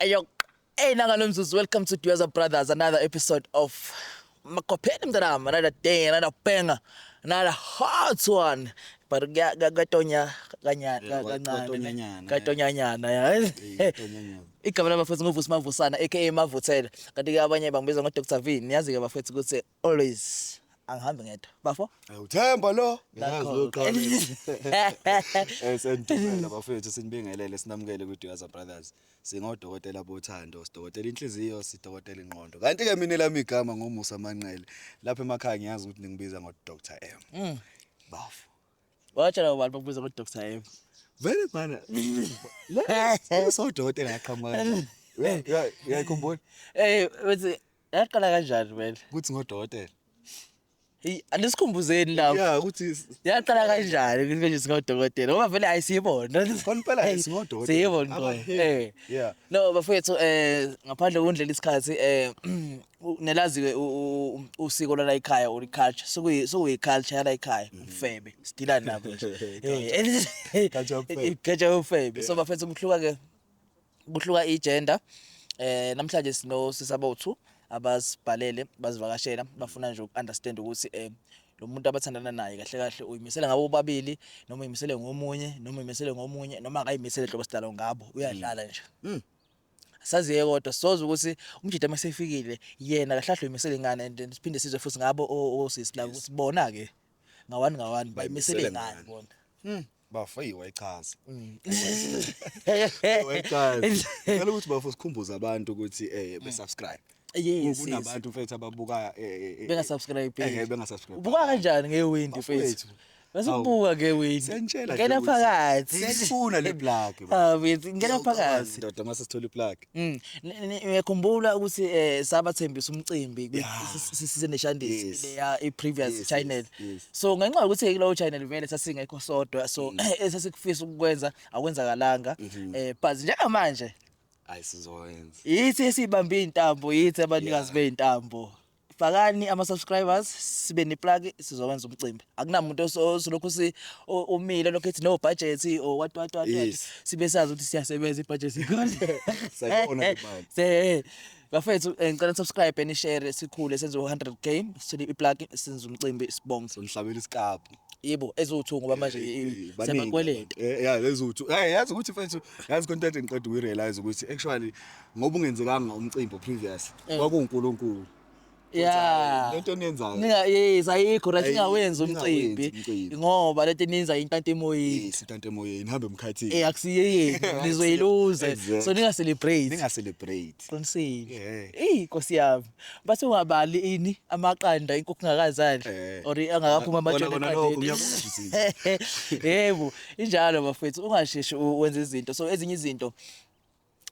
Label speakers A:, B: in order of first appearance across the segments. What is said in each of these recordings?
A: Ayok. Hey nakalomzuzu welcome to Dueza Brothers another episode of Makopheni mntanami another day another banger another hot one but kuyatonya kanyana kancane katonyanyana yazi igama labafethu nguvusi mavusana aka mavuthela kanti ke abanye bangibiza ngo Dr Vini niyazi ke bafethu ukuthi Always angihambi ngedwa. Bafo? Uthemba lo.
B: Yazi loqala. Esendumela bafethu sinibingelele sinamukele ku Duyaza Brothers. Singodokotela bothando, sidokotela inhliziyo, sidokotela ingqondo. Kanti ke mina lami igama ngomusa manqele. Lapha emakhaya ngiyazi ukuthi ningibiza ngo Dr. M. Mm. Bafo. Watshela
A: ubani bakubiza ngo Dr. M? Vele bana.
B: Lesodokotela yaqhamuka kanjani? Uyayikhumbula? Eh,
A: uthi Yaqala kanjani vele? Kuthi
B: ngodokotela. Hey,
A: aniksikhumbuzeni lapho. Yeah, ukuthi Yaqala
B: kanjani
A: ukuthi manje singodokotela? Ngoba vele ayisibona. Konipela Hey,
B: singodokotela. Siyibona Aba- kodwa.
A: hey,
B: Eh. yeah. No, bafethu
A: eh ngaphandle kokundlela isikhathi eh nelaziwe u- u- u- usiko lala ekhaya or culture. Sokuyi sokuyi culture yala ekhaya. Mm-hmm. Ufebe. Sidila nabo nje. Eh, Culture yobufebe. Culture yobufebe. So bafethu kuhluka ke Kuhluka i-gender eh namhlanje sino sisabothu abasibhalele bazivakashela bafuna nje ukunderstand ukuthi eh lo muntu abathandana naye kahle kahle uyimisele ngabo bobabili noma uyimisele ngomunye noma uyimisele ngomunye noma akayimisele hlobo sidalo ngabo uyadlala nje mm. saziye kodwa soze ukuthi umjida masefikile yena kahle kahle uyimisele ngane and siphinde sizwe futhi ngabo osisi la ukuthi bona ke ngawani ngawani bayimisele ngani bona mm. bafo eyi wayichaza
B: mm. wayichaza ngicela ukuthi bafo sikhumbuze abantu ukuthi eh mm. besubscribe Yes,
A: kunabantu mfethu ababuka
B: eh, eh, eh, benga subscribe
A: eh benga subscribe
B: ubuka kanjani nge
A: wind mfethu Basubuka ke wethu. Ngena phakathi. Sifuna le
B: plug. Ah, wethu ngena
A: phakathi. Ndoda mase sithola iplug.
B: Mm. Ni- ni- Ngiyakhumbula
A: ukuthi eh sabathembisa umcimbi kwi- Yeah. si- si- size neshandisi Yes. leya i-previous Yes, channel. yes, yes. So ngenxa yokuthi kulowo channel vele sasingekho sodwa so Mm. esasikufisa ukukwenza akwenzakalanga. Mm-hmm. Eh but njengamanje Hayi sizoyenza.
B: yithi esibambe
A: intambo yithi abanikazi Yeah. beintambo. fakani ama-subscribers sibe neplaki sizowenza umcimbi akunamuntu osolokhu umile lokhu ethi no budget or what what what yes. sibe sazi ukuthi siyasebenza ibudget
B: se bafethu eh,
A: ngicela subscribe and share sikhule senze 100 k sithole iplaki senze umcimbi sibonge somhlabela isikabhu
B: yebo eziwu-two
A: ngoba manje eh, eh, eh, sebakweleta ya leziwu-two
B: yazi ukuthi mfethu yazi content ngiqeda ukuyirealize ukuthi actually ngoba ungenzekanga umcimbi previous eh. kwakuwuNkulunkulu yeah
A: lento eniyenzayo
B: ninga yes ayikho
A: right ingawenzi umcimbi ngoba lento eninza intanta emoyeni yes intanta emoyeni nihambe
B: emkhathini eh akusiyeyeni
A: nizoyiluze so ninga celebrate ninga celebrate
B: qinisile
A: eh inkosi yami bathi ungabali ini amaqanda inkukhu ngakazali eh. or angakaphuma amajoni yebo injalo bafethu ungasheshi wenza izinto so ezinye izinto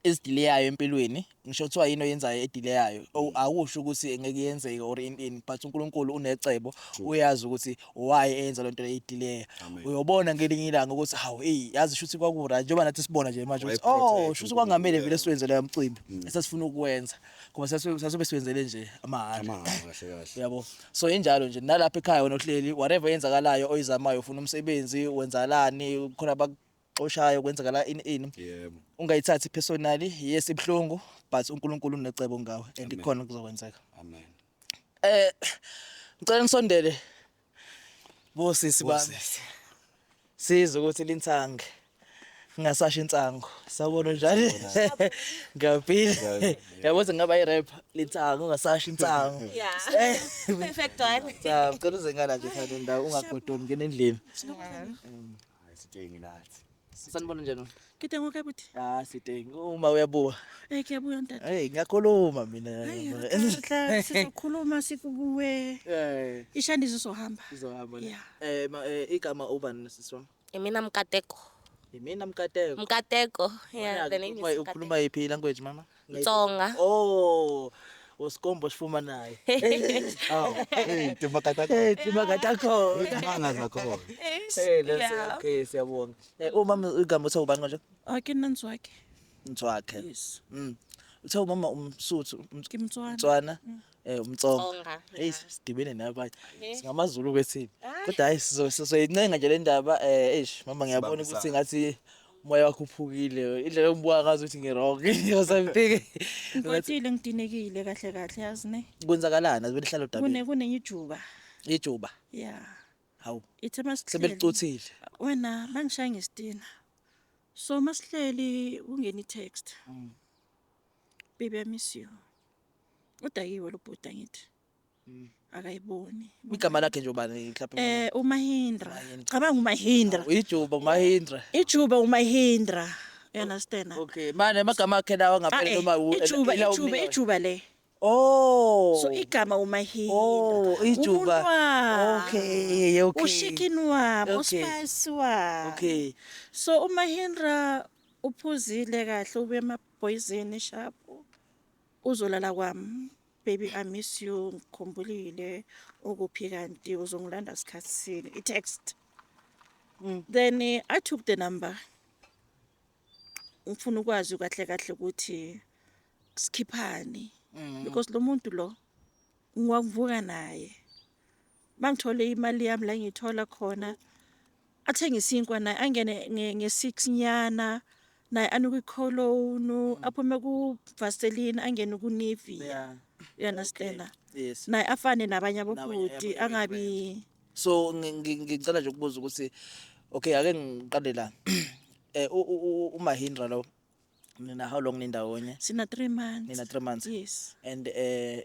A: ezidileyayo empilweni ngisho kuthiwa yini oyenzayo edileyayo mm. akusho ukuthi engeke yenzeke or in in but uNkulunkulu unecebo uyazi ukuthi why eyenza lento edileya uyobona ngelinye ilanga ukuthi hawu hey yazi shuthi kwakura njengoba nathi sibona nje manje ukuthi oh shuthi kwangamele vele siwenze leyo mcimbi mm. esasifuna ukwenza ngoba sasobe siwenzele nje amahhala yabo
B: so
A: injalo nje nalapha ekhaya wena uhleli whatever yenzakalayo oyizamayo ufuna umsebenzi wenzalani khona xoshayo kwenzeka la ini ini yebo ungayithathi
B: personally
A: yes ibuhlungu but uNkulunkulu unecebo ngawe and Amen. ikhona kuzokwenzeka amen
B: eh
A: ngicela nisondele bosisi bami Bosisi. sizwe ukuthi linsange ngingasasho insango sawubona njalo ngiyabhile Ngiyabhile. yabo ukuthi ngingaba i-rap linsango ungasasho insango Yeah.
C: Perfect one. cha ngicela uzengana nje
A: thanda ndawo ungagodoni ngena endlini
B: Hayi sithengi nathi. Sanibona njani?
A: Kide ngoke buthi.
C: Ah sithengi uma
A: uyabuka. Eh kuyabuya ntata.
C: Hey ngiyakhuluma mina.
A: Hayi sizokhuluma
C: sikuwe. Eh. Ishandiso sohamba. Izohamba. Yeah.
A: Eh, eh
C: igama ubani
A: siswa? Imina Mkateko.
C: Imina Mkateko. Mkateko.
A: Yeah, the name is Mkateko.
C: Ukhuluma iphi language mama?
A: Tsonga.
C: Oh.
A: Usikombo sifumanayo. Aw, hey, timakata
B: khona. Eh timakata khona.
A: Izimanga zakhona. Eh
B: that's Yeah.
A: okay siyabonga. Eh uma igama uthe ubani manje? Ah, ke nna Ntswake.
C: Mtswakhe.
A: Yes. Mm.
C: Uthe umama
A: umsuthu um- Ke Motswana. Mtswana.
C: Eh
A: umtsonga. Tsonga. Hey sidibene nabanye. SingamaZulu kwethini. Kodwa hayi sizo- sizoyincenga nje le ndaba eh eish mama ngiyabona ukuthi ngathi Moya wakho uphukile. Indlela engibuka ngazo ukuthi ngi-wrong. Because I'm thinking. Ngikwatile
C: ngidinekile kahle kahle yazi ne. Kwenzakalani? Azibele hlalo
A: dabeni. Kune kunenye ijuba.
C: Ijuba.
A: Yeah.
C: Hawu.
A: Ithe masihleli.
C: Sebelicuthile.
A: Wena
C: bangishaya ngesitina. So masihleli ungena i-text. Mm. Baby I miss you. Udakiwe lo bhuti angithi. Mm. akayiboni igama lakhe
A: nje ubani mhlawumbe eh umahindra
C: cabanga umahindra ijuba umahindra
A: ijuba umahindra
C: you understand okay manje amagama
A: akhe lawa ngaphandle ah, eh, noma ijuba ijuba ijuba
C: le Oh.
A: So igama
C: uMahila. Oh, ijuba.
A: Okay, okay. Ushikin
C: wabo, okay. uSpice
A: wabo.
C: Okay.
A: So uMahindra
C: uphuzile kahle ubuye emaboyizini sharp. Uzolala kwam baby I miss you ngikhumbulile ukuphi kanti uzongilanda sikhathi sini i text mm. then eh, I took the number ngifuna ukwazi kahle kahle ukuthi sikhiphani mm. because lo muntu lo ngiwakuvuka naye mangithole imali yami la ngiyithola khona athenge isinkwa naye angene nge-six nyana naye anuke ikholonu mm. aphume kuvaseline angene kunivia you
A: understand
C: yes naye afane
A: nabanye
C: abobhuti angabi so
A: ngicela nje ukubuza ukuthi okay ake ngiqale la eh umahindra lo nina how long nindawonye sina 3 months nina
C: 3 months yes
A: and eh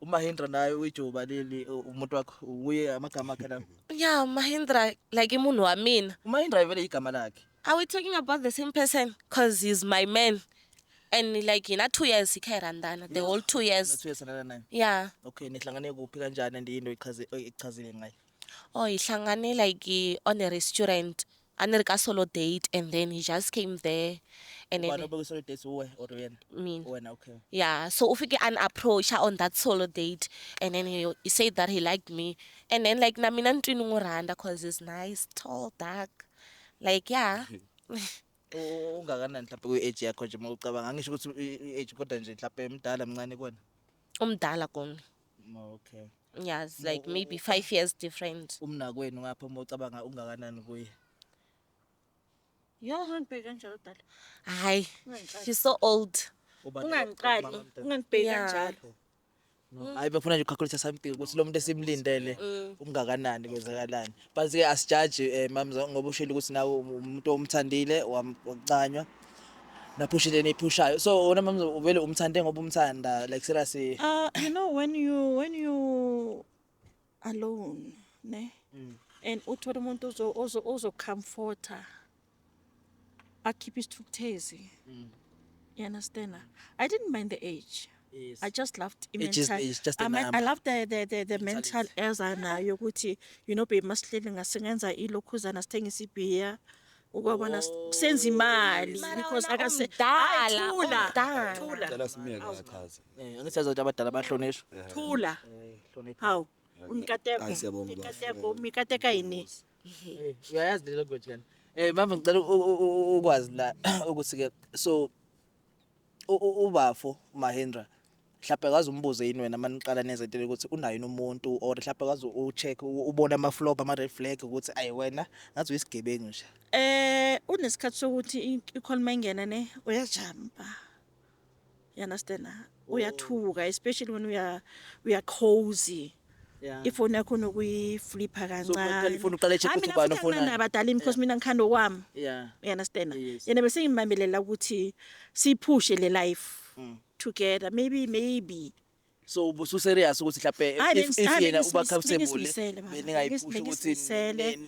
A: uMahindra naye uyijoba leli u- umuntu wakho uye amagama akhe lawo Yeah, Mahindra,
C: like imunhu wa mina. uMahindra vele igama
A: lakhe Are we talking about the
C: same person? Cause he's my man. And like in a two years, he carried Randana, the whole two years. nathiwe sanana naye Yeah.
A: okay
C: nihlangane kuphi
A: kanjani and yinto echaze- eyichazile ngayo Oh, he shangane
C: like eh, on a restaurant. a ni ri ka solo date and then he just came there and
A: then
C: yeah
A: so u fike a
C: ni approacha on that solo date and then he, he said that he liked me and then like na mina ni twi ni n'wi rhandza cause he's nice tall dark like yeah
A: ungakanani mhlawumbe kwi-age yakho nje uma ucabanga angisho ukuthi i-age kodwa nje mhlawumbe mdala mncane kona umdala
C: kona Okay.
A: Yeah, it's like
C: Mo- maybe five years different. Umnakwenu ngapha uma
A: ucabanga ungakanani kuye.
C: Yo, Ungangibheki kanjalo dala. hi, Ungangixaki. she's so old. Ubani Ungangixaki. ubaba mntwana? Ungangibheki Yeah. kanjalo. No. Hayi
A: bafuna nje ukukhalkulisa something ukuthi lo muntu esimlindele Mm. ungakanani kwenzakalani. but ke asijaji um eh, mamza ngoba ushilo ukuthi nawe umuntu omthandile wakucanywa naphusha into eniyiphushayo so wona mamza vele umthande ngoba umthanda like seriously uh, you know when
C: you when you alone ne mm. and uthole umuntu ozocomforta akhiphe isithukuthezi mm. you understand i didn't mind the age Yes. I just
A: loved it mental.
C: Just, it's just I,
A: mean, I love the the
C: the,
A: the
C: mental eza nayo ukuthi you know be masihleli ngasengenza ilokhuzana sithengisa ibhiya ukwabona oh. senza imali because akase dala dala dala
B: simiyeke achaze eh angithi azothi abadala
A: bahlonishwa thula
C: eh, hawu umkateko umkateko
B: umkateka
C: yini uyayazi
A: le language kana Eh mama ngicela ukwazi la ukuthi ke so ubafo Mahendra mhlawumbe kazi umbuze yini wena maniqala neze into ukuthi unayo umuntu or mhlawumbe kazi ucheck ubona ama flop ama red flag ukuthi ayi wena ngathi uyisigebengu nje eh unesikhathi
C: sokuthi ikhona mangena ne uyajamba you understand uyathuka oh. especially when uya uya cozy ifoni
A: yakho
C: nokuyiflipha kancane ufuna uqale check ukuthi ubani
A: ufuna mina abadala because mina ngikhanda
C: okwami yeah you
A: understand
C: yena bese ngimambelela ukuthi siphushe le life mm. together maybe maybe so ubusu
A: serious ukuthi mhlape if yena uba comfortable beningayiphushi
C: ukuthi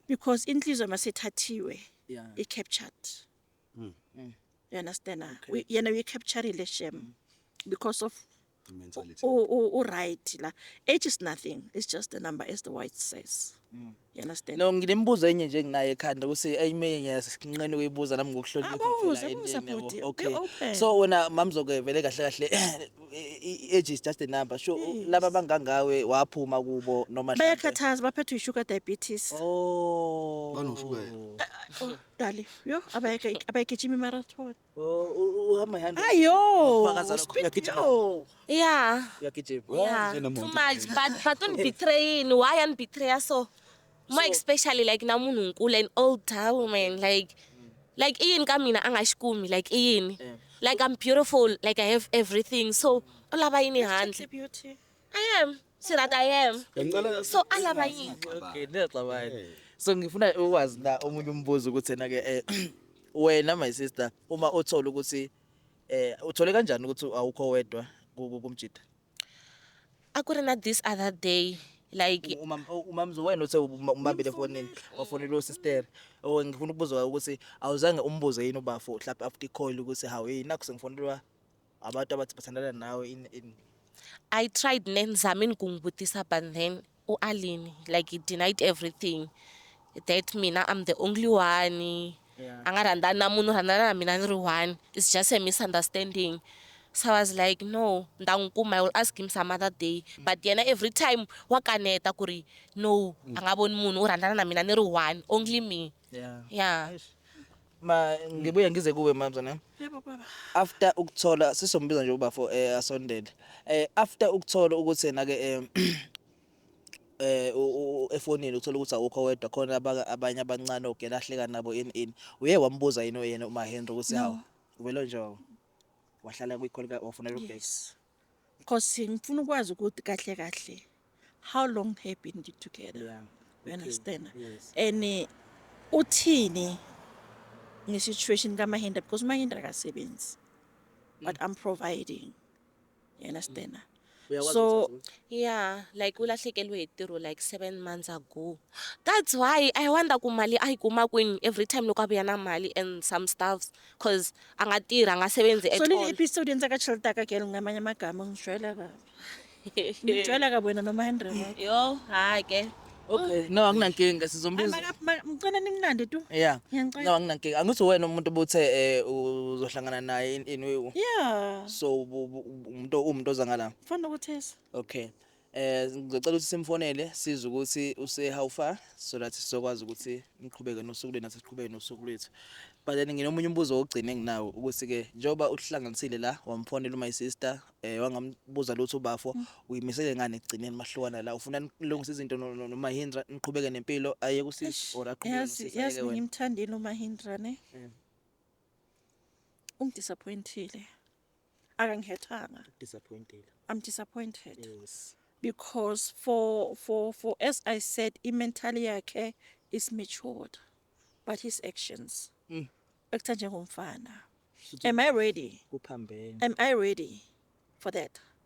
C: because inhliziyo masethathiwe i
A: captured mm.
C: mm. you understand okay. we, yena we capturile shem mm. because of
B: uright
C: la age is nothing it's just the number as the white says mm. you understand no nginembuzo enye nje
A: nginayo ekhanda ukuthi ayimenye ngiyasinqene ukuyibuza nami ngokuhlonipha ah,
C: okay
A: so
C: wena mamzoke
A: vele kahle kahle age is just a number sho laba bangangawe waphuma kubo noma bayakhathaza baphethwe sugar
C: diabetes oh
A: banoshukela eh, eh, oh.
C: Dali, yo abayeke abayigijima imarathon. Uhamba
A: ihamba. Ayo. Ufakaza
C: lokho, uyagijima.
A: Yo. Yeah.
C: Uyagijima.
D: Yeah. Nje
A: nemoto. Too
D: much, but
B: but
D: unibethrayini, why anibethraya so? More So- especially like na munhu nkulu and old tau man, like like iyini ka mina angashikumi, like iyini. Yeah. Like I'm
A: beautiful,
D: like I have everything. So ulaba yini handle? Beauty.
C: I am.
D: so that i am Ngicela so alaba yini okay
A: niyaxabana so ngifuna ukwazi na omunye umbuzo ukuthi ena ke eh, wena my sister uma uthola ukuthi eh uthole kanjani ukuthi awukho wedwa ku- ku- kumjita
D: a ku ri na this other day like uma uma mzo wena
A: uthe uma- umabile efonini wafonela usister oh ngifuna ukubuza ukuthi awuzange umbuze yini ubafo mhlawumbe after icall ukuthi hawu yini nakho sengifonelwa Abantu abathi bathandana nawe in in I tried
D: nenzamini kungibutisa but then uAline like he denied everything that mina I'm the only one yeah. a nga rhandzani
A: na munhu rhandzana
D: na mina ni ri one it's just a misunderstanding so I was like no nda n'wi kuma I will ask him some other day mm. but yena every time wa kaneta ku ri no mm. a nga voni munhu u rhandzana na mina ni ri one only me
A: Yeah.
D: Yeah.
A: Eish. Ma ngibuye ngize kuwe mamza nami. Yebo baba.
C: After ukuthola
A: sisombiza nje ubafo eh asondele. Eh after ukuthola ukuthi yena ke eh eh u- u- u- efonini uthola ukuthi awukho wedwa khona abaka- abanye abancane ogela ahleka nabo in in. Uye wambuza yini yena uma Henry ukuthi hawu ubelo njengo. Wahlala kwikholi ka ofuna ukubheka. Yes.
C: Nkosi ngifuna ukwazi ukuthi kahle kahle how long have been you together yeah. you okay. understand yes. and
A: eh,
C: uthini nge-situation kamahindra because umahindra akasebenzi mm. but i'm providing you understand mm. so yeah
A: like
D: ulahlekelwe hi ntirho like seven months ago that's why i wonder ku mali a yi kuma kwini every time loko a vuya na mali and some stuffs cause angatirha angasebenzi at so all episode yenza
C: ka chelta ka girl ngamanye amagama ngijwayela kabi ngijwayela kabi wena noma Henry yo hayi
D: ke Okay, no
A: anginankinga sizombiza. Ngicela nimnande
C: tu. Yeah. No
A: anginankinga.
C: Angithi wena
A: umuntu obuthe eh uzohlangana naye in in. Yeah. So umuntu umuntu oza ngala. Fanele ukuthesa.
C: Okay.
A: Eh ngicela ukuthi simfonele size ukuthi use how far so that sizokwazi ukuthi niqhubeke nosuku lwenu asiqhubeke nosuku lwethu. But then nginomunye umbuzo ogcina enginawo ukuthi ke njengoba uhlanganisile la wamfonela my sister eh wangambuza lutho ubafo mm. uyimisele ngani ekugcineni mahlukana la ufuna nilungise izinto noma Hindra niqhubeke nempilo aye kusisi or aqhubeke nosisi. Yazi ngimthandile uma Hindra
C: ne. Mm. Ungidisappointile. akangihethanga disappointed
A: i'm disappointed
C: yes
A: because
C: for for for as i said imentally yakhe is matured but his actions mm. ekutha njengomfana am i ready kuphambene am
A: i ready
C: for that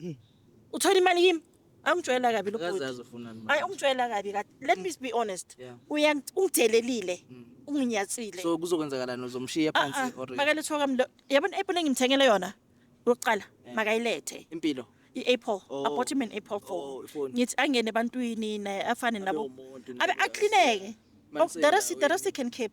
C: Hmm. Uthola imali kimi. Angijwayela kabi lo bhuti. Hayi
A: ungijwayela kabi kathi.
C: Let me be honest. Uya
A: ungidelelile.
C: Hmm. Unginyatsile. So kuzokwenzakalani
A: uzomshiya ah, phansi ah. or? Makale thoka mlo. Yabona
C: apple engimthengele yona. Uqala eh. makayilethe. Impilo.
A: i-apple oh. i
C: bought him an apple
A: phone
C: oh, ngithi
A: angene ebantwini
C: naye afane nabo abe aklineke oh, the rest
A: the rest he can
C: keep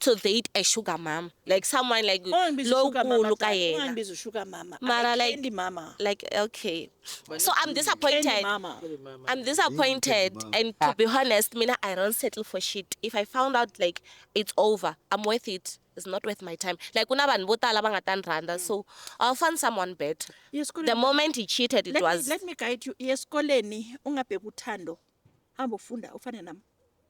D: to date a sugar mama like someone like Ungangibizi usugar mama lowukulu Dali,
C: kayena ungangibizi usugar mama. Mara, I'm like- Candy mama.
D: like
C: okay
D: so i'm Candy disappointed mama.
C: i'm
D: disappointed Mama. and to be honest mina i don't settle for shit if i found out like it's over i'm worth it it's not worth my time like kunabantu vo tala va nga ta ni rhandza so i'll find someone better Iye the esikoleni. moment he cheated it Let me, was let me guide you. Iye
C: esikoleni ungabheki uthando. Hamba ufunda ufane nami.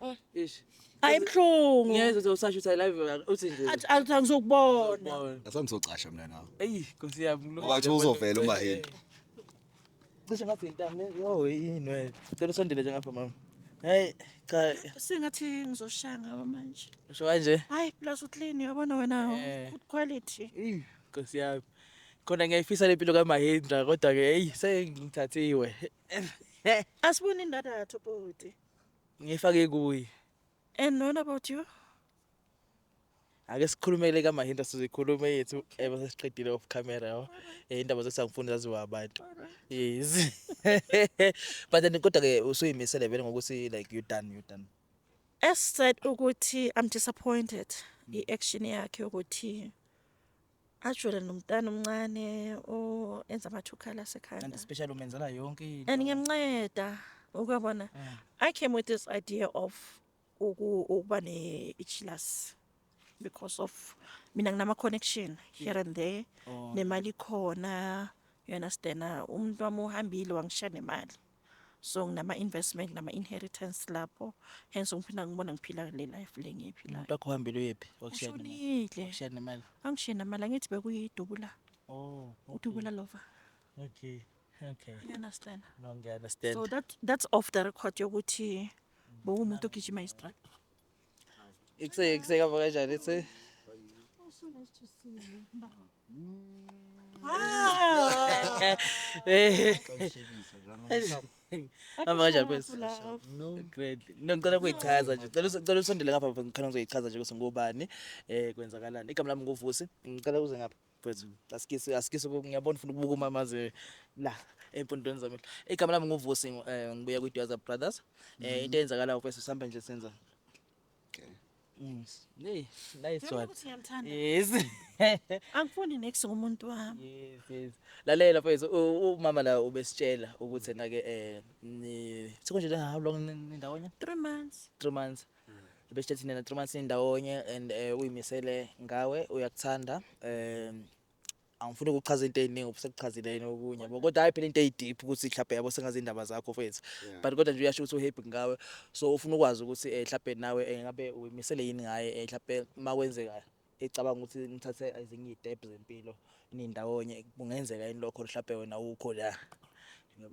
C: Oh.
A: Eish. Hayi ibuhlungu.
C: Ngeke uthi usasho ukuthi
A: I love you ngaka- uthi nje. Athi athi angizokubona.
C: Bone. Ngase ngizocasha mina
B: nawe. Eyi Nkosi yami.
A: lo- Ngoba kuthiwa uzovela uma
B: yini.
A: Cishe ngathi intamo ne- yo yini wena. Cela usondele nje ngapha mama. Hey cha Sengathi
C: ngizoshaya ngawe manje. usho kanje. Hayi
A: plus uclean
C: uyabona wena Eh. good quality. Eyi Nkosi
A: yami. Khona ngiyayifisa lempilo kaMahendra kodwa ke eyi sengithathiwe.
C: Asibone indadatho bhuti. Ngifake
A: kuyi. And what
C: about you?
A: Ake sikhulumele ka Mahinda sizikhulume yethu ebe sesiqedile off camera yabo. Eh indaba zesangifuna zaziwa abantu. Yes. But then kodwa ke usuyimisele vele ngokuthi like you done you done. As
C: said ukuthi I'm disappointed. I action yakhe ukuthi ajwele nomntana omncane oenza amathukhala asekhanda
A: and especially
C: umenzela yonke
A: into and ngiyamnceda
C: ukwabona mm. i came with this idea of ukuba ne-ichilasi because of mina nginama-connection here and there oh. nemali khona you understand umntu wami uhambile wangishiya nemali so nginama investment nama inheritance lapho hence ngiphinda ngibona ngiphila le life le ngiyiphilayo umuntu wakho uhambile uyephi
A: wakushiyile ukushiya nemali
C: angishiye
A: nemali angithi
C: bekuyidubula oh
A: okay. udubula lova
C: okay
A: okay you
C: understand no ngiya understand so
A: that that's off
C: the record yokuthi bokumuntu ogijima istrike Ikse ikse
A: ka baka jare se. Hamba kanjani kwesi? Great. No ngicela kuyichaza nje. Cela cela usondele ngapha mfana ngicela ngizoyichaza nje ukuthi ngubani eh kwenzakalani. Igama lami nguVusi. Ngicela uze ngapha. Mfethu asikise asikise ngiyabona ufuna ukubuka uma maze la empondweni zami. Igama lami nguVusi eh, ngibuya kwiDwaza Brothers. Eh into eyenzakalayo mfethu sihambe nje senza. Mm. Hey, nice Ngiyabona one. ukuthi ngiyamthanda. Yes.
C: Angifuni next ngomuntu wami. Yes, yes. Lalela
A: mfethu u- umama la ubesitshela ukuthi nake eh ni sekunje how long ni- nindawonye? 3 months.
C: 3 months.
A: besithe thina na-three months nindawonye and um uyimisele ngawe uyakuthanda um angifuni ukuchaza into ey'ningi ubusekuchazile yini okunye yabo kodwa hhayi phela into eyi-deep ukuthi mhlawumbe yabo sengazi iy'ndaba zakho fethu but kodwa nje uyasho ukuthi uhappy ngawe so ufuna ukwazi ukuthi um mhlawumbe nawe um ngabe uyimisele yini ngaye um mhlawumbe uma kwenzeka ecabanga ukuthi nithathe ezinye iy'tebhu zempilo nindawonye kungenzeka yini lokho mhlawumbe wena ukho la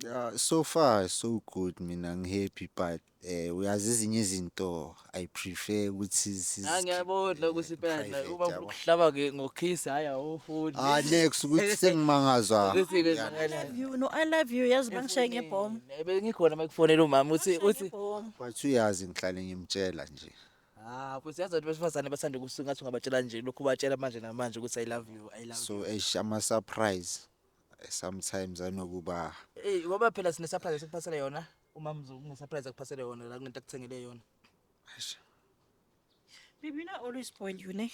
A: ya
E: so far so good mina ngihappy but Eh uyazi izinye izinto I prefer ukuthi sizi- Ah, ngiyabodla
A: ukuthi impela la private, uma yabo. ukuhlaba ke ngokiss hayi awufuni Ah next ukuthi
E: sengimangazwa. Ukuthi ke I love you
C: no I love you yazi bangishaye ngebhomu bengikhona makufonela
A: umama uthi uthi ngebhomu But uyazi
E: ngihlale ngimtshela nje. ah futhi yazi
A: abantu besifazane bathanda ukusuka ngathi ungabatshela nje lokhu batshela
E: manje
A: namanje ukuthi i love you i
E: love you
A: So eish ama surprise eh,
E: sometimes anokuba eh ngoba phela
A: sine surprise esikuphasela yona Umama uzokungisurprise akuphasele yona la kunento akuthengele yona. Eish.
C: Baby, you know I always spoil you, ne?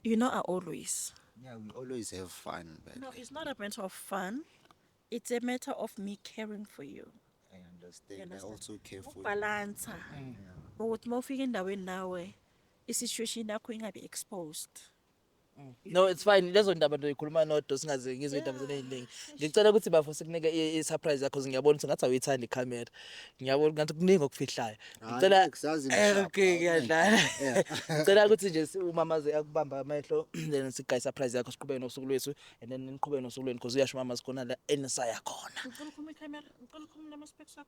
C: You know I always. Yeah, we always
E: have fun, but No, it's not a matter of
C: fun. It's a matter of me caring for you. I understand.
E: I understand. also care for you.
C: Ukubalansa. Ukuthi uma ufika endaweni nawe, i-situation yakho ingabi exposed. Mm.
A: No it's fine lezo ndaba nto ikhuluma nodwa singaze ngizwe indaba zenu eziningi. Ngicela ukuthi bafo sikunike i- i surprise yakho ngiyabona ukuthi ngathi awuyithandi camera. Ngiyabona ngathi kuningi okufihlayo. Ngicela Hayi, kusazi Eh, ngishapha, okay
E: awunayo. ngiyadlala.
A: Ngicela
E: ukuthi nje si-
A: umamazi akubamba amehlo then sigaye surprise yakho siqhubeke nosuku lwethu and then niqhubeke nosuku lwenu because uyasho umamazi khona la enisaya khona. Ngicela ukhuluma ikhamera, ngicela
C: ukhuluma namaspecks akho.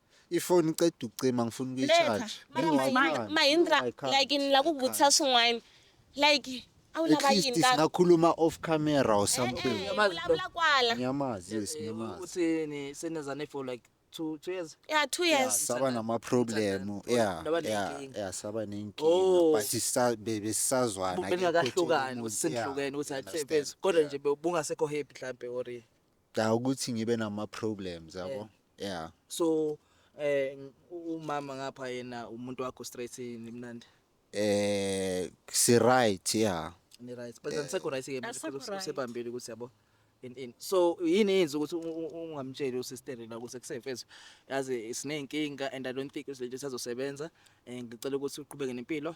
E: ifoni
C: iqeda
E: ukucima ngifuna ukuyicharge Mahindra
D: like ngila kuvutisa swin'wana like awulabayini singakhuluma
E: off
D: camera
E: or eh, something eh, ulavula kwala
D: ngiyamazi yes
E: ngiyamazi uthi ni senezane
A: for like two two years yeah two years saba
D: nama problem
E: yeah yeah yeah
A: saba
E: nenkinga oh. but sisa besazwana bengakahlukani
A: usenhlukene ukuthi athi kodwa nje bungasekho happy mhlambe or Da ukuthi
E: ngibe nama problems yabo. Yeah. so
A: eh u- umama ngapha yena umuntu wakho straight nimnandi Eh
E: si right yeah. ni right but angisekho
A: right ke manje Asekho futhi right. usebambile
C: ukuthi yabo
A: in in so yini yenza ukuthi u- u- ungamtsheli usister la ukuthi kusefezwe yazi sineyinkinga and i don't think izinto sazosebenza eh ngicela ukuthi uqhubeke nempilo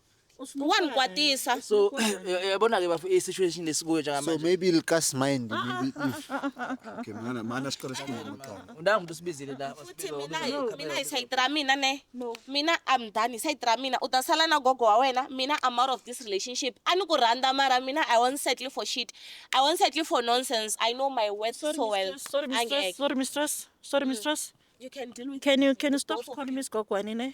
D: wangikwatisa so
A: yabona ke bafu isituation lesikuyo njengamanje so maybe likas mind
E: maybe if
B: okay mana mana siqale sikhuluma maqala undanga umuntu usibizile la futhi
A: mina
D: mina isayidra mina ne no mina i'm done isayidra mina utasala na gogo wa wena mina i'm out of this relationship ani ku randa mara mina i won't settle for shit i won't settle for nonsense i know my worth sorry, so well sorry mistress sorry mistress sorry
C: mistress you can deal with can
D: you can you stop calling
C: me gogo anine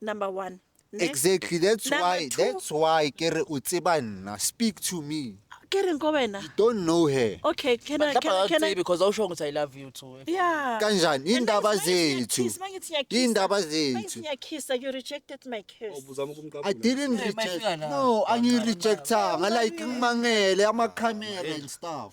C: number one ne? exactly that's Number
E: why two. that's why ke re
C: o
E: tseba nna speak to me ke reng ko wena
C: you don't know her
E: okay can I, can,
C: I- can I, because
A: awusho
C: ukuthi i love
A: you too yeah kanjani
C: iy'ndaba
E: zethu iy'ndaba
C: zethu
E: ngiyakisa
C: you
E: rejected
C: my kiss ubuzama i ukumqabula
E: didn't Yeah, reject
A: mayifika la.
E: no
A: angiyirejectanga
E: like ngimangele amakhamera and stuff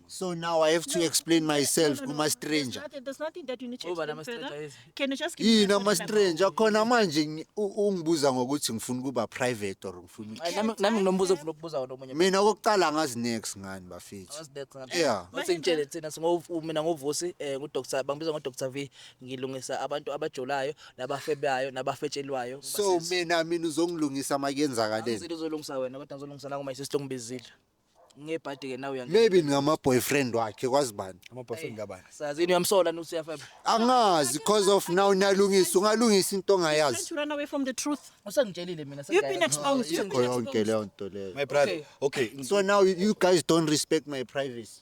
C: So now I have to No,
E: explain no, no, myself no, no, kuma there's stranger.
C: nothing- There's nothing
E: that you need
C: to Ngoba explain nama-stranger further. is-
A: Can
C: you just
A: give me Yini
C: the ama
A: contact number?
C: stranger
E: khona
C: manje
E: ngi- u- ungibuza ngokuthi ngifuna ukuba private or ngifuna Ay, nami nami nginombuzo
A: ofuna ukubuza wona omunye mina kokuqala ngazi
E: next ngani bafethu Yeah. sengitshele thina singo-
A: u- mina ngovusi um ngudr bangibiza ngodr v ngilungisa abantu abajolayo nabafebayo nabafetshelwayo so mina
E: mina uzongilungisa makuyenzakaleni uzolungisa wena kodwa
A: ngizolungisa nakuma isisi longibizile ngebhadi ke nawe uyangena maybe ngama boyfriend
E: wakhe kwazi bani ama boyfriend kabani sazi
B: yini uyamsola nuthi
A: uyafeba angazi because
E: of now niyalungisa ungalungisa into Can't ongayazi you run away from
C: the
E: truth?
C: usengitshelile mina You've
A: been exposed. You've been
C: yonke exposed. leyo nto leyo my
E: brother okay
B: so now you you guys
E: don't respect my privacy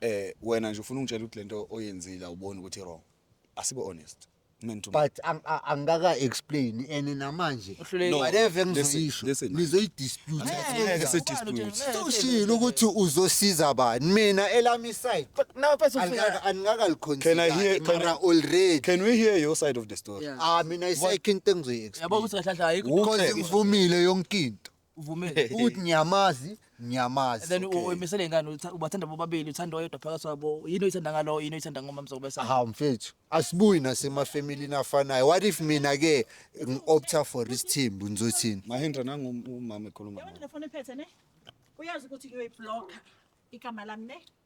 B: eh wena nje ufuna ungitshela ukuthi lento oyenzile awuboni ukuthi wrong asibe honest men to men. but ang- a-
E: angikaka explain and namanje Uhlulekile. No, whatever
A: listen, engizoyisho
E: listen.
B: nizoyidispute
E: Ngeke
B: sidispute. soshilo ukuthi
E: uzosiza bani mina elami side Nawe pese ufika.
A: Can I angikakaliconsider
E: hear-
B: can I- mara already can
E: we hear your side
B: of the story Yeah. ah mina isayikho
A: into
E: engizoyi-explain Yabo ukuthi kahle
A: kahle ayikho.
E: Who
A: because cares? ngivumile
E: yonke into uvumele ukuthi
A: ngiyamazi
E: ngiyamazi and then
A: okay. uyimisele ingane
E: utha- ubathanda
A: bobabili uthanda oyedwa phakathi kwabo yini oyithanda ngalowo yini oyithanda ngomamzokubesa hawu mfethu
E: asibuyi nasemafamilini afanayo what if mina ke ngi-opta for isithimbu ngizothini Mahendra nangu umama ekhuluma.
B: Yabona le foni ephethe ne uyazi ukuthi
C: uyoyibhlokha igama lami ne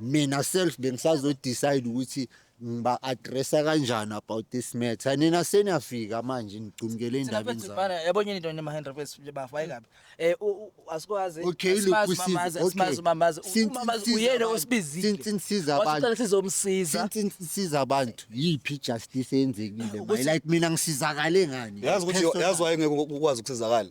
E: mina self bengisazo decide ukuthi ngiba addressa kanjani about this matter nina seniyafika manje nigcumkele endabeni zami Bana yabonye into nema hand
A: request bafu ayikabi. Eh u- u- asikwazi Okay, look, asimazi
E: usizi, umamazi, okay. asimazi umamazi. Since Umamazi
A: nisiza uyena
E: abantu,
A: osibizile.
E: since nisiza
A: abantu.
E: Wasicela sizomsiza. since
A: nisiza
E: abantu yiphi ijustice eyenzekile Ukuthi- manje like mina ngisizakale ngani yazi ukuthi Personal. yazi wayengeke
B: ukwazi ukusizakala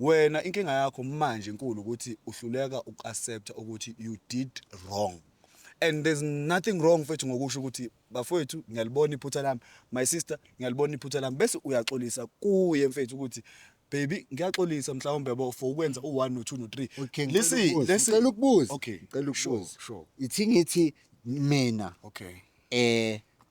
B: Wena inkinga yakho manje nkulu ukuthi uhluleka uku accept ukuthi you did wrong and there's nothing wrong mfethu ngokusho ukuthi bafowethu ngiyalibona iphutha lami my sister ngiyalibona iphutha lami bese uyaxolisa kuye mfethu ukuthi baby ngiyaxolisa mhlawumbe bo for ukwenza u1 no 2 no 3 okay listen
E: ngicela
B: ukubuza okay ngicela
E: ukubuza sure
B: sure
E: ithi ngithi mina okay eh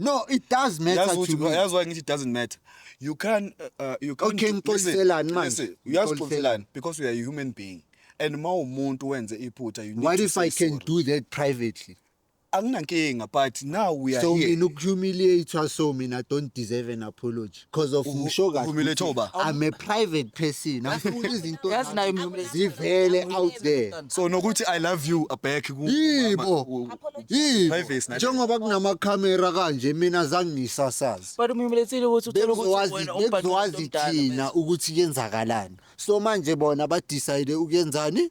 B: No, it
E: does matter Yazi to ukuthi me. yazi why ngithi it doesn't matter.
B: You can uh, uh, you can't Okay, do- listen,
E: ngixoliselani manje? listen, uyazi Ngixoliselani. uxoliselani
B: because you are a human being. And uma umuntu wenze iphutha you need What to if say I can sorry. do
E: that privately? Anginankinga
B: but now we are So here. mina ukuhumiliate
E: so mina don't deserve an apology. because of Usho kahle Uvumile ukuthi thoba. I'm a
B: private
E: person angifuni izinto Yazi naye zami mvumile.
A: zivele out there
E: so nokuthi i love
B: you abhekhi ku yibo
E: yibo Privacy nathi. njengoba
B: kunamakhamera
E: kanje mina zange ngisasazi But umyumulethile ukuthi
A: uthole ukuthi bekuzowazi wena umbhadi bekuzowazi womdala thina ukuthi
E: kwenzakalani so manje bona badecide ukuyenzani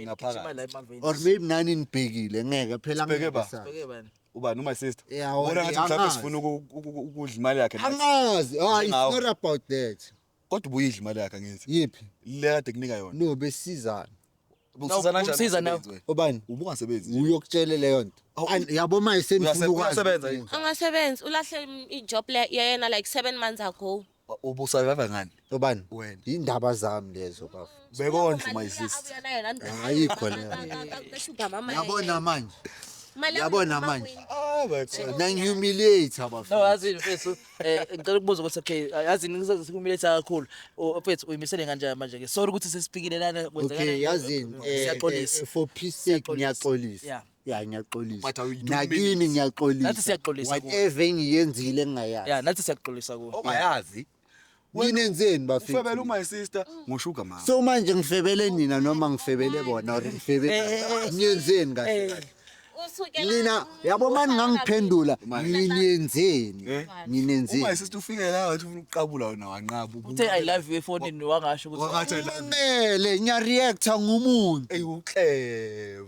E: ngaphakathi or
B: maybe nani
E: nibhekile ngeke phela Sibheke ba. ngibhekisana.
B: ubani
E: uma sister
B: Yeah, ubona ngathi mhlawumbe angazi.
E: sifuna
B: uku- uku- uku-
E: ukudla
B: imali yakhe nathi. angazi ah, it's
E: Angawo. not about
B: that
E: kodwa ubuyidla imali
B: yakhe angithi yiphi le kade
E: kunika yona
B: no besizana
E: Ubukusizana
B: kanjani ubusiza nawe. umsebenzi wena? obani ubungasebenzi
E: uyokutshele
B: leyo nto
E: Awu, An- yabo ma Uyase- uyasebenza yini? isenifuna
B: angasebenzi ulahle
D: im- ijob le yena like seven months ago ubusurvive ngani
B: obani wena
E: indaba
B: zami
E: lezo bafo bekondla my
B: sister ayikho
E: leyo yabona manje yabona manje nangihumiliate bafo no yazi mfethu
A: eh ngicela ukubuza ukuthi okay yazi ngisazihumiliate kakhulu mfethu uyimisele kanjani manje ke sorry ukuthi sesifikile lana kwenzeka okay yazi eh,
E: siyaxolisa eh, for
A: peace sake
E: ngiyaxolisa
A: ya
E: ngiyaxolisa
A: But
E: you don't nakini
B: mean it. Nathi ngiyaxolisa
A: siyaxolisa
E: kuwe. whatever
A: engiyenzile
E: engingayazi ya nathi siyakuxolisa kuwe
A: ongayazi
B: mina enzeni
E: ufebela bafethu umy
B: sister
E: ngoshuga
B: mama so manje ngifebele
E: nina noma ngifebele bona or ngifebele ngiyenzeni kahle kahle nina yabo mani ngangiphendula nginenzeni Eh? umy nginenzeni sister ufike la
B: wathi ufuna ukuqabula wena wanqaba uthe i love you
A: efonini wangasho ukuthi wakathi kumele
B: ngiyareacta
E: ngumuntu eyi ukleva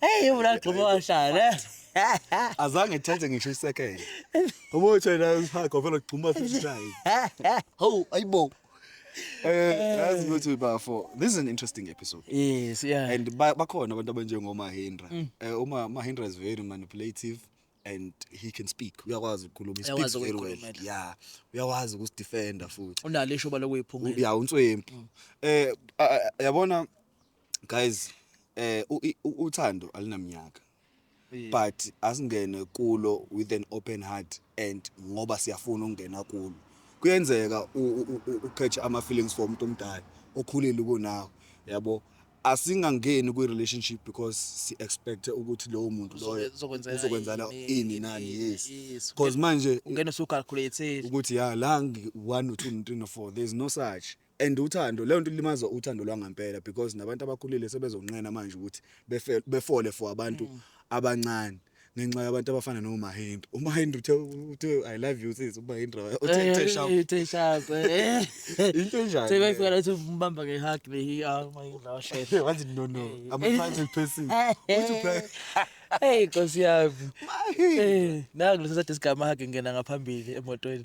B: Hey uvula
A: gxuma washaya ne.
B: Azange ethathe ngisho isekele. Ubuthe la usakho vele ugxuma futhi shayi. Hawu
E: ayibo. Eh
B: yazi ukuthi bafo this is an interesting episode. Yes yeah. And
A: bakhona abantu
B: abanjengo Mahindra. Mm. Eh uma Mahindra is very manipulative. and he can speak uyakwazi ukukhuluma he speaks very well
A: yeah uyakwazi
B: ukusdefenda futhi unale ishoba lokuyiphumelela
A: yeah unswempu mm.
B: eh yabona guys eh u- i- u- uthando alinamnyaka but asingene kulo with an open heart and ngoba siyafuna ukungena kulo kuyenzeka u- u- u- uqhetshe ama-feelings for umuntu omdala okhulile kunawo yabo asingangeni kwi-relationship because si-expecte ukuthi lowo muntu loyo Uzobe- uzokwenzela uzokwenzana ini, ini nani ini, yes yes. because manje ungena usucalculate
A: ukuthi ya la
B: ngi-one or two no three no four there's no such And uthando leyo nto ilimaza uthando lwangampela because nabantu abakhulile sebezonqena manje ukuthi befe- befole for abantu Mm. abancane ngenxa yabantu abafana noMahindra uMahindra uthe uthe i love you sis uMahindra Eh, uthe uthe sharp Uthe sharp.
A: eh. into
B: enjani Uthe leyo? kwayifika ukuthi umbamba
A: nge-hug le hi- ah, uma yindla washesha. Wathi no no i'm
B: a private person Uthi uphela- Hey
A: Nkosi yami. Eh, naku lesa sade sigamahage ngena ngaphambili emotweni.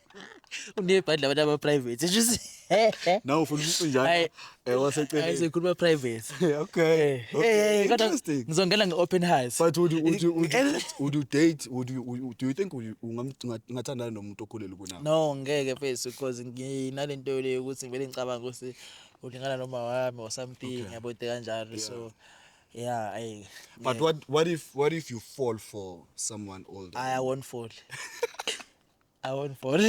A: unebhadi labantu ama-private just nawe
B: ufuna ukucinjana Hayi. eh waseceleni ayisekhuluma private
A: okay Eh, okay. eh, eh,
B: kodwa interesting
A: ngizongena
B: nge-open heart
A: but would you, would you, would
B: you, would you date would you, would you, do you think would you- ungam- unga- ungathandana nomuntu okhulele kunawe no ngeke fesi
A: because nginale nto le yokuthi ngivele ngicabanga ukuthi ulingana noma wami or something yabote kanjalo so yeah ayi but what
B: what if what if you fall for someone older i won't fall
A: I won't fall.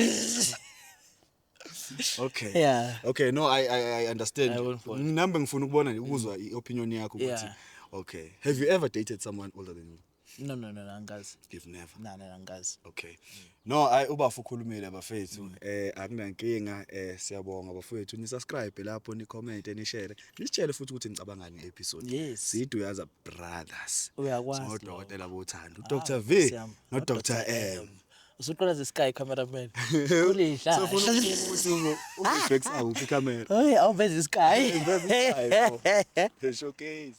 B: okay yeah okay no
A: i i,
B: I understand
A: nginambe
B: ngifuna
A: ukubona nje
B: ukuzwa mm. iopinion yakho ukuthi yeah. okay
A: have you
B: ever dated someone older than you no no no
A: angikazi you've never no no
B: angikazi okay
A: mm.
B: no ay ubafu ukhulumile abafethu mm. eh akunankinga eh siyabonga bafethu ni subscribe lapho ni comment ni share ni share futhi ukuthi nicabanga nge episode yes sidu yaza brothers uyakwazi so
A: dokotela bothando
B: ah, dr v no dr m usuqala ze sky
A: cameraman ulidla sefuna ukuthi
B: ngo ubhex awuphi
A: camera hey
B: awuveze sky the showcase